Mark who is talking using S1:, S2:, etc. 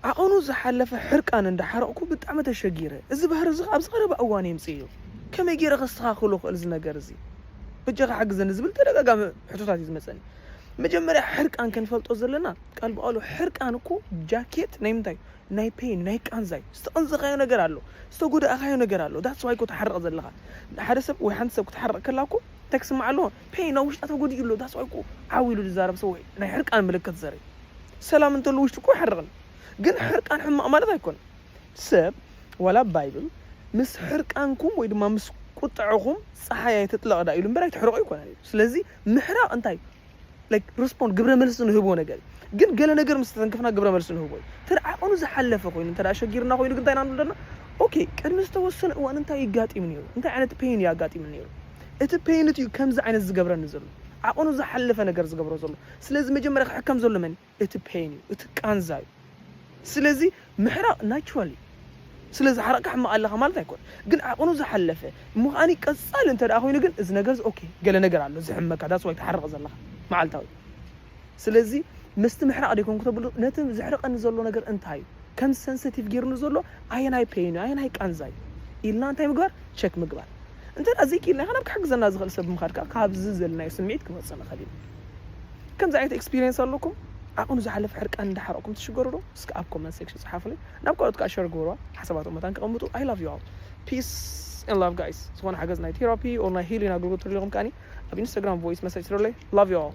S1: ዓቐኑ ዝሓለፈ ሕርቃን እንዳ ሓረቕኩ ብጣዕሚ ተሸጊረ። እዚ ባህሪ እዚ ከኣ ኣብዚ ቀረባ እዋን የምጽእዮ። ከመይ ጌረ ከስተኻኽሎ እኽእል እዚ ነገር እዚ? በጃኻ ሓግዘኒ ዝብል ተደጋጋሚ ሕቶታት እዩ ዝመጸኒ። መጀመርያ ሕርቃን ክንፈልጦ ዘለና ቃል ብቓሉ ሕርቃን እኮ ጃኬት ናይ ምንታይ እዩ? ናይ ፔይን ናይ ቃንዛ እዩ። ዝተቐንዘኻዮ ነገር ኣሎ። ዝተጎዳእኻዮ ነገር ኣሎ። That's why እኮ ትሓርቕ ዘለኻ። ሓደ ሰብ ወይ ሓንቲ ሰብ ክትሓርቕ ከላ እኮ እንታይ ክስምዓ ኣለዎ? ፔን ኣብ ውሽጣ ተጎዲኡ ኣሎ that's why እኮ ዓው ኢሉ ዝዛረብ ሰብ ወይ ናይ ሕርቃን ምልክት ዘርኢ ሰላም እንተሉ ውሽጡ እኮ ይሓርቕን ግን ሕርቃን ሕማቕ ማለት ኣይኮነን ሰብ ዋላ ባይብል ምስ ሕርቃንኩም ወይ ድማ ምስ ቁጥዐኹም ፀሓይ ኣይትጥለቕ ዳ ኢሉ እምበር ኣይትሕርቑ ኣይኮነን እዩ ስለዚ ምሕራቕ እንታይ እዩ ላይክ ሪስፖንድ ግብረ መልሲ ንህቦ ነገር ግን ገለ ነገር ምስ ተተንክፍና ግብረ መልሲ ንህቦ እዩ እንተ ዓቐኑ ዝሓለፈ ኮይኑ እንተ ሸጊርና ኮይኑ ግን እንታይ ኢና ንብለና ኦኬ ቅድሚ ዝተወሰነ እዋን እንታይ ይጋጢም ነይሩ እንታይ ዓይነት ፔን እዩ ኣጋጢሙ ነይሩ እቲ ፔይንት እዩ ከምዚ ዓይነት ዝገብረኒ ዘሎ ዓቐኑ ዝሓለፈ ነገር ዝገብሮ ዘሎ ስለዚ መጀመርያ ክሕከም ዘሎ መን እዩ እቲ ፔይን እዩ እቲ ቃንዛ እዩ ስለዚ ምሕራቕ ናቹራል እዩ ስለ ዝሓረቕካ ሕማቕ ኣለኻ ማለት ኣይኮነ ግን ዓቕኑ ዝሓለፈ እሞ ከዓኒ ቀጻሊ እንተ ኮይኑ ግን እዚ ነገር ኦኬ ገለ ነገር ኣሎ ዝሕመካ ዳስ ዋይ ትሓርቕ ዘለኻ መዓልታዊ ስለዚ ምስቲ ምሕራቕ ደይኮንኩ ተብሉ ነቲ ዘሕርቐኒ ዘሎ ነገር እንታይ እዩ ከም ሰንሰቲቭ ጌርኒ ዘሎ ኣየናይ ፔይን እዩ ኣየናይ ቃንዛ እዩ ኢልና እንታይ ምግባር ቸክ ምግባር እንተ ደኣ ዘይክኢልና ከ ናብ ክሕግዘና ዝኽእል ሰብ ብምኻድ ከኣ ካብዚ ዘለናዮ ስምዒት ክንወጽእ ንኽእል ኢና ከምዚ ዓይነት ኤክስፒሪየንስ ኣለኩም ዓቕኑ ዝሓለፈ ሕርቃን እንዳሓረቕኩም ትሽገሩ ዶ እስከ ኣብ ኮመንት ሴክሽን ጽሓፉለይ ናብ ካልኦት ከኣ ሸር ግበርዋ ሓሳባቶም መታን ክቐምጡ ኣይ ላቭ ዩ ኣል ፒስ ን ላቭ ጋይስ ዝኾነ ሓገዝ ናይ ቴራፒ ኦር ናይ ሂሊን ኣገልግሎት ትደልኹም ከኣ ኣብ ኢንስታግራም ቮይስ መሰጅ ትደለይ ላቭ ዩ ኣል